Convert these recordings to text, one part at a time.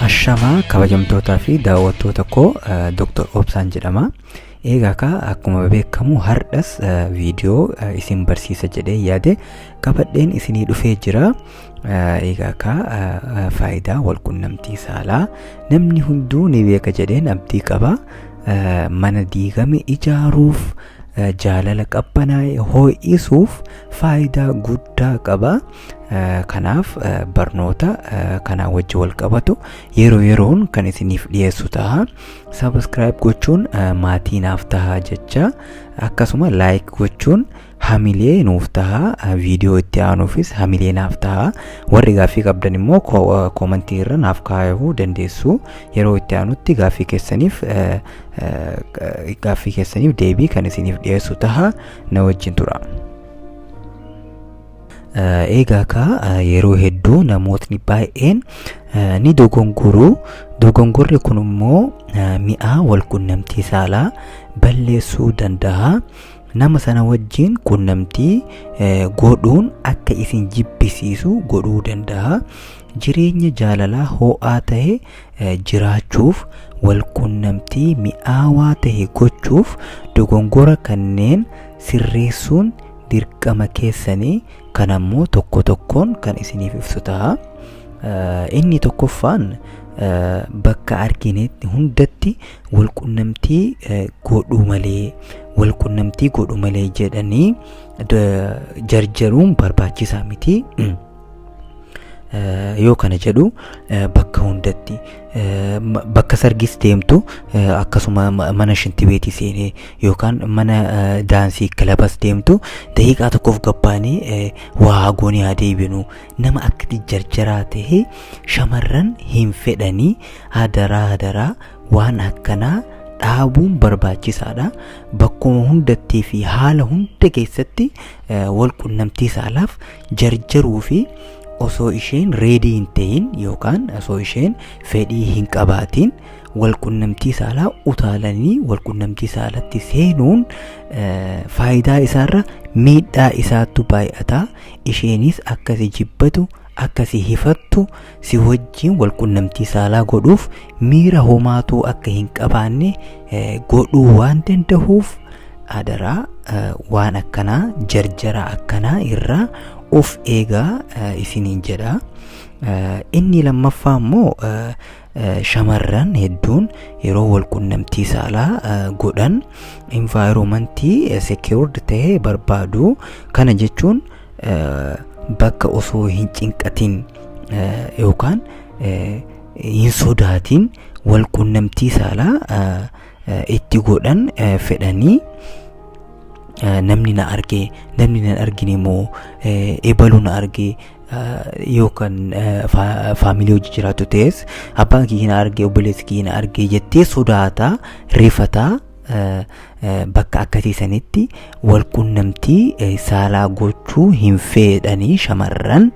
Ashamaa kabajamtootaa fi daawwattoota koo Dr. Obsaan jedhama. Eegaa kaa akkuma beekamu hardhas viidiyoo isin barsiisa jedhee yaade qabadheen isinii dhufee jira. Eegaa kaa faayidaa walqunnamtii saalaa namni hunduu ni beeka jedheen abdii qaba. Mana diigame ijaaruuf jaalala qabbanaa'e ho'isuuf faayidaa guddaa qaba. kanaaf barnoota kanaa wajji wal qabatu yeroo yeroon kan isiniif dhiyeessu taha sabiskiraayib gochuun maatii naaf taha jecha akkasuma laayik gochuun hamilee nuuf taha viidiyoo itti aanuufis hamilee naaf taha warri gaaffii qabdan immoo koomantii irra naaf kaayuu dandeessu yeroo itti aanutti gaaffii keessaniif gaaffii keessaniif deebii kan isiniif dhiyeessu taha na wajjin tura. Eegaa kaa yeroo hedduu namootni baay'een ni dogongoruu dogongorri kun immoo mi'aa walqunnamtii saalaa balleessuu danda'a nama sana wajjin qunnamtii godhuun akka isin jibbisiisu godhuu danda'a jireenya jaalalaa ho'aa ta'e jiraachuuf walqunnamtii mi'aawaa ta'e gochuuf dogongora kanneen sirreessuun dirqama keessani kan ammoo tokko tokkoon kan isiniif ibsu ta'a. Inni tokkoffaan bakka arginetti hundatti walqunnamtii godhuu malee walqunnamtii godhu malee jedhanii jarjaruun barbaachisaa miti. yoo kana jedhu bakka hundatti bakka sargis deemtu akkasuma mana shintibeetii seenee yookaan mana daansii kilabas deemtu daqiiqaa tokkoof gabbaanii waa hagoonii haa deebinu nama akkati jarjaraa ta'e shamarran hin fedhanii hadaraa hadaraa waan akkanaa dhaabuun barbaachisaadha bakkuma hundattii fi haala hunda keessatti wal qunnamtii saalaaf jarjaruu fi osoo isheen reedii hin ta'in yookaan osoo isheen fedhii hin qabaatiin walqunnamtii saalaa utaalanii walqunnamtii saalatti seenuun eh, faayidaa isaarra miidhaa isaattu baay'ata isheenis akkasi jibbatu akkasi hifattu si wajjiin wal qunnamtii saalaa godhuuf miira homaatuu akka hin qabaanne godhuu waan dandahuuf adaraa waan akkanaa jarjara akkanaa irraa of eegaa isiniin jedha inni lammaffaa immoo shamarran hedduun yeroo wal qunnamtii saalaa godhan environmentii secured ta'e barbaadu kana jechuun bakka osoo hin cinqatin yookaan hin sodaatin wal qunnamtii saalaa itti godhan fedhanii namni na arge namni na argine immoo ebalu na arge yookaan faamilii hojii jiraatu ta'es abbaan kiyya na arge obboleessi kiyya na arge jettee sodaataa rifataa bakka akkasii sanitti wal qunnamtii saalaa gochuu hin fedhanii shamarran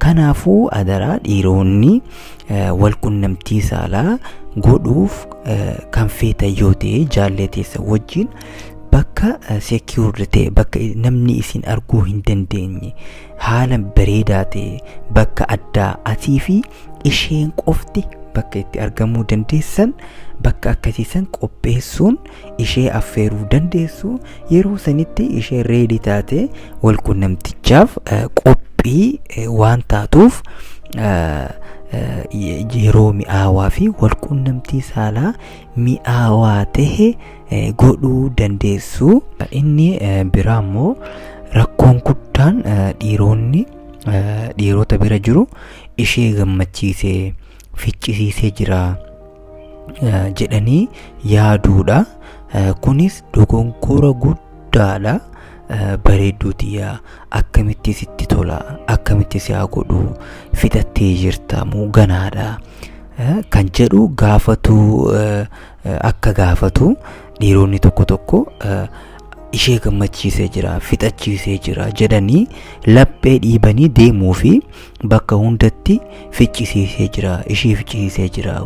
kanaafuu adaraa dhiiroonni wal qunnamtii saalaa godhuuf kan feetan yoo ta'e jaallee teessa wajjin bakka secured ta'e bakka namni isin arguu hin dandeenye haala bareedaa ta'e bakka addaa atii fi isheen qofti bakka itti argamuu dandeessan bakka akkasii san qopheessuun ishee affeeruu dandeessu yeroo sanitti ishee reedii taate wal qunnamtichaaf eh, qophii eh, waan taatuuf eh, eh, yeroo mi'aawaa fi wal qunnamtii saalaa mi'aawaa ta'e godhuu dandeessu. Inni biraa immoo rakkoon guddaan dhiironni dhiirota bira jiru ishee gammachiisee ficcisiisee jira jedhanii yaaduudha. Kunis dogonkora guddaadha. Bareedduu tiyyaa akkamitti sitti tola akkamitti si haa godhu fixattee jirta moo ganaadha kan jedhu gaafatu akka gaafatu dhiironni tokko tokko ishee gammachiisee jira fixachiisee jira jedhanii laphee dhiibanii deemuu fi bakka hundatti ficcisiisee jira ishee ficcisiisee jira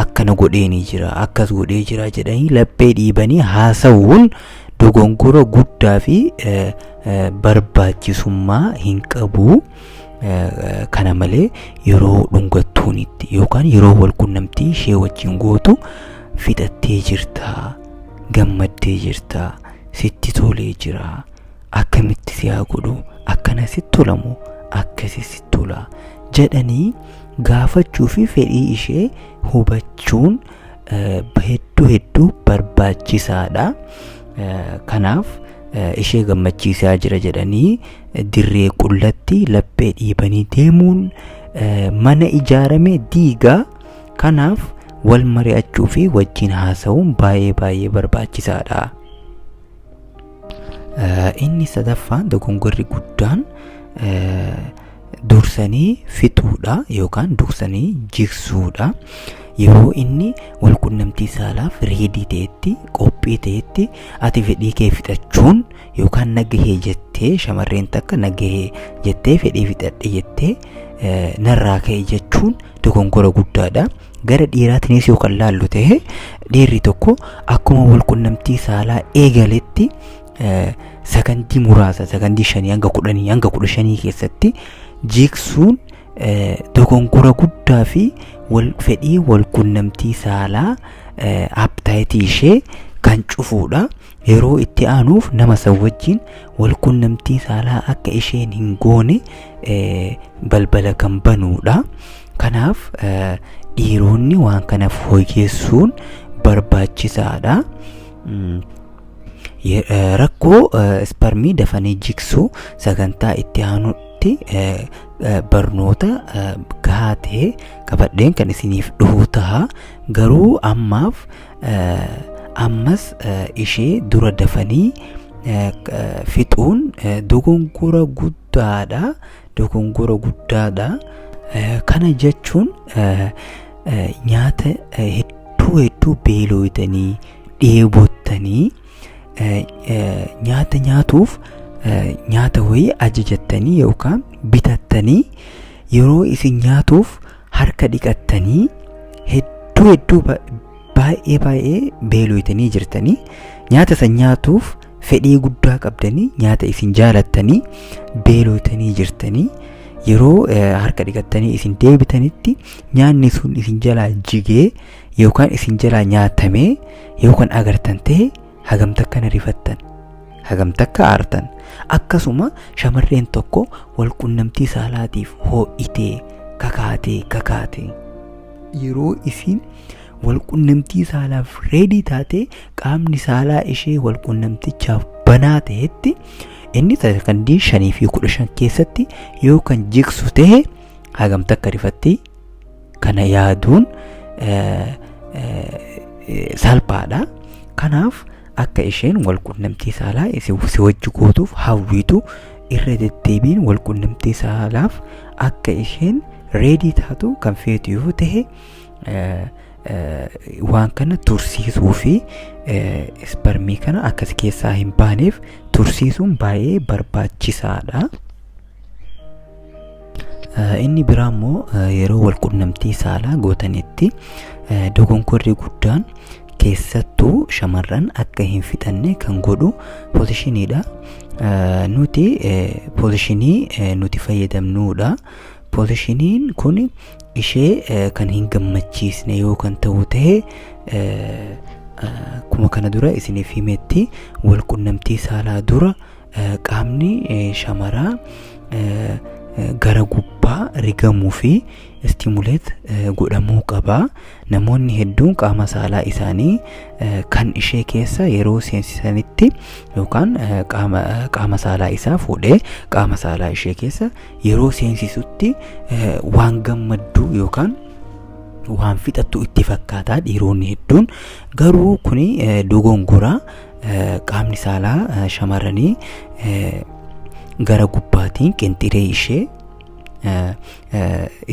akkana godheenii jira akkas godhee jira jedhanii laphee dhiibanii haasa'uun dogongora guddaa fi barbaachisummaa hin qabu. Kana malee yeroo dhungattuunitti yookaan yeroo walqunnamtii ishee wajjin gootu fixattee jirta, gammaddee jirta, sitti tolee jira, akkamitti si haa godhu, akkana sitti tolamu, akkasi sitti tola jedhanii gaafachuu fi fedhii ishee hubachuun hedduu hedduu barbaachisaadha. Kanaaf. ishee gammachiisaa jira jedhanii dirree qullatti laphee dhiibanii deemuun mana ijaarame diigaa kanaaf wal mari'achuu fi wajjin haasa'uun baay'ee baay'ee barbaachisaadha. Inni sadaffaan dogongorri guddaan dursanii fixuudha yookaan dursanii jigsuudha. Yeroo inni wal qunnamtii saalaaf reedii ta'etti qophii ta'etti ati fedhii kee fixachuun yookaan nagahee jettee shamarreen takka nagahee jettee fedhii fixadhe jettee narraa ka'e jechuun dogongora guddaadha. Gara dhiiraatiinis yoo kan laallu ta'e dhiirri tokko akkuma wal qunnamtii saalaa eegaletti sakandii muraasa sakandii shanii hanga kudhanii hanga kudha shanii keessatti jigsuun dogongora guddaa fi wal fedhii wal qunnamtii saalaa appetaayitii ishee kan cufuudha. Yeroo itti aanuuf nama san wajjin wal qunnamtii saalaa akka isheen hin goone balbala kan banuudha. Kanaaf dhiironni waan kana fooyyessuun barbaachisaadha. rakkoo isparmii dafanii jiksuu sagantaa itti aanutti barnoota gahaa ta'e qabadheen kan isiniif dhufu taha garuu ammaaf ammas ishee dura dafanii fixuun dogongora guddaadha dogongora guddaadha kana jechuun nyaata hedduu hedduu beelooytanii dheebottanii nyaata nyaatuuf nyaata wayii ajajattanii yookaan bitattanii yeroo isin nyaatuuf harka dhiqattanii hedduu hedduu baay'ee baay'ee beelooytanii jirtanii nyaata san nyaatuuf fedhii guddaa qabdanii nyaata isin jaalattanii beelooytanii jirtanii yeroo harka dhiqattanii isin deebitanitti nyaanni sun isin jalaa jigee yookaan isin jalaa nyaatamee yoo kan agartan ta'e hagam takka na rifattan hagam takka aartan akkasuma shamarreen tokko wal qunnamtii saalaatiif hoo'itee kakaatee kakaatee yeroo isin wal qunnamtii saalaaf reedii taatee qaamni saalaa ishee wal qunnamtichaaf banaa ta'etti inni sakandii shanii fi kudha shan keessatti yoo kan jigsu ta'e hagam takka rifattee kana yaaduun salphaadha. Kanaaf akka isheen walqunnamtii saalaa si wajji gootuuf hawwiitu irra deddeebiin walqunnamtii saalaaf akka isheen reedii taatu kan feetu yoo ta'e waan kana tursiisuu fi isparmii kana akkas keessaa hin baaneef tursiisuun baay'ee barbaachisaadha. Inni biraa immoo yeroo wal qunnamtii saalaa gootanitti dogonkorri guddaan keessattuu shamarran akka hin fixanne kan godhu poozishiniidha. Nuti poozishinii nuti fayyadamnuudha. Poozishiniin kun ishee kan hin gammachiisne yoo kan ta'u ta'e akkuma kana dura isiniif himetti wal qunnamtii saalaa dura qaamni shamaraa gara gubbaa rigamuu fi istimuleet godhamuu qaba namoonni hedduun qaama saalaa isaanii kan ishee keessa yeroo seensisanitti yookaan qaama saalaa isaa fuudhee qaama saalaa ishee keessa yeroo seensisutti waan gammadduu yookaan waan fixattu itti fakkaataa dhiiroonni hedduun garuu kun dogongoraa qaamni saalaa shamarranii gara gubbaatiin qinxiree ishee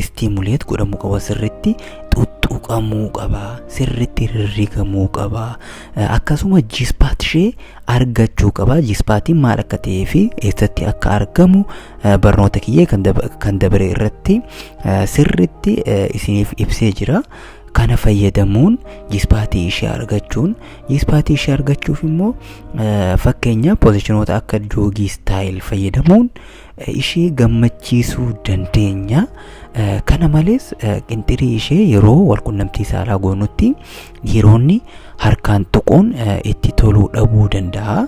istiimuleet godhamuu qaba sirritti xuxxuqamuu qaba sirritti rirrigamuu qaba akkasuma jispaat ishee argachuu qaba jispaatiin maal akka ta'ee fi eessatti akka argamu barnoota kiyyee kan dabre irratti sirritti isiniif ibsee jira kana fayyadamuun jispaatii ishee argachuun Ispaatii ishee argachuuf immoo fakkeenya pozishinoota akka joogii istaayil fayyadamuun ishee gammachiisuu dandeenya. Kana malees qinxirii ishee yeroo walqunnamtii saalaa goonutti dhiironni harkaan tuquun itti toluu dhabuu danda'a.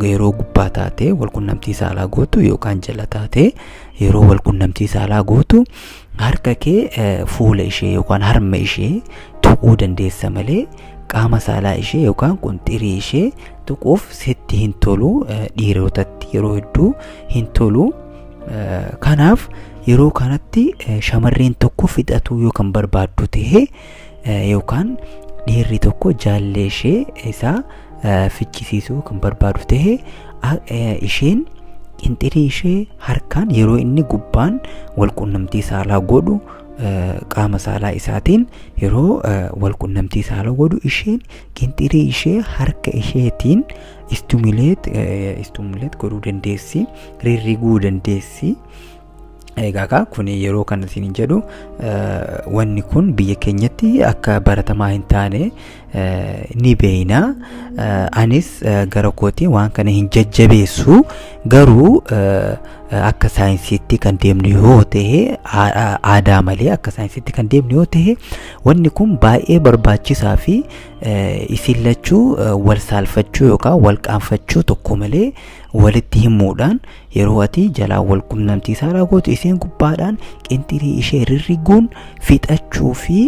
Yeroo gubbaa taatee walqunnamtii saalaa gootu yookaan jala taatee yeroo walqunnamtii saalaa gootu Harka kee fuula ishee yookaan harma ishee tuquu dandeessa malee qaama saalaa ishee yookaan qunxirii ishee tuquuf sitti hin tolu dhiirotatti yeroo hedduu hin tolu. Kanaaf yeroo kanatti shamarreen tokko fixatuu yoo kan barbaaddu ta'e yookaan dhiirri tokko jaallee ishee isaa ficcisiisuu kan barbaadu ta'e isheen qinxirii ishee harkaan yeroo inni gubbaan walqunnamtii saalaa godhu qaama saalaa isaatiin yeroo walqunnamtii saalaa godhu isheen qinxirii ishee harka isheetiin istumileet istumileet godhuu dandeessi rirriguu dandeessi Egaa kun yeroo kan isin jedhu wanni kun biyya keenyatti akka baratamaa hin taane ni beeyna. Anis gara kootiin waan kana hin jajjabeessu garuu akka saayinsiitti kan deemnu yoo ta'e aadaa malee akka saayinsiitti kan deemnu yoo ta'e wanni kun baay'ee barbaachisaa fi isin lachuu wal saalfachuu yookaan wal qaanfachuu tokko malee walitti himuudhaan Yeroo ati jalaan wal qunnamtii saalaa gootu isheen gubbaadhaan qinxirii ishee rirriguun fixachuu fi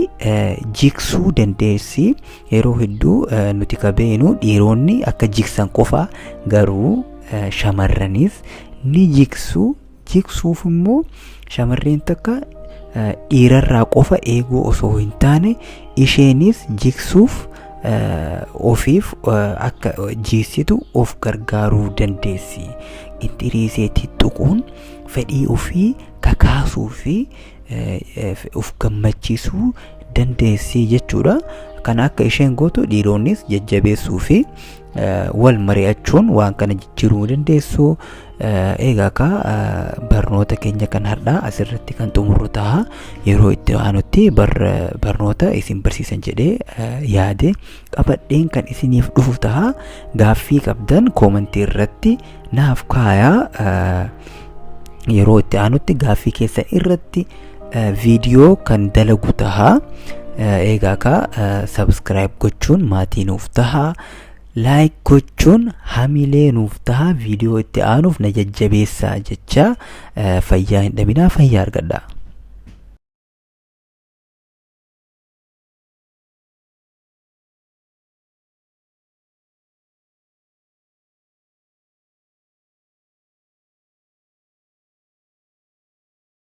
jiksuu dandeessi. Yeroo hedduu nuti ka beenu dhiironni akka jiksan qofa garuu shamarranis ni jiksu. Jiksuuf immoo shamarreen takka dhiirarraa qofa eeguu osoo hin taane isheenis jiksuuf ofiif akka jiissitu of gargaaruu dandeessi. Inxiriisee tuttuquun fedhii ofii kakaasuu fi of gammachiisuu dandeessi jechuudha. Kana akka isheen gootu dhiironnis jajjabeessuu fi wal mari'achuun waan kana jijjiiruu dandeessu. Egaa akka barnoota keenya kan har'aa asirratti kan xumurru ta'a yeroo itti aanutti barnoota isin barsiisan jedhee yaade qabadheen kan isiniif dhufu ta'a gaaffii qabdan koomantii irratti naaf kaayaa yeroo itti aanutti gaaffii keessan irratti viidiyoo kan dalagu ta'a egaa akka sabskiraayib gochuun maatii nuuf ta'a Like gochuun hamilee nuuf taha viidiyoo itti aanuuf na jajjabeessaa jechaa eh, fayyaa hin dhabinaa fayyaa argadhaa.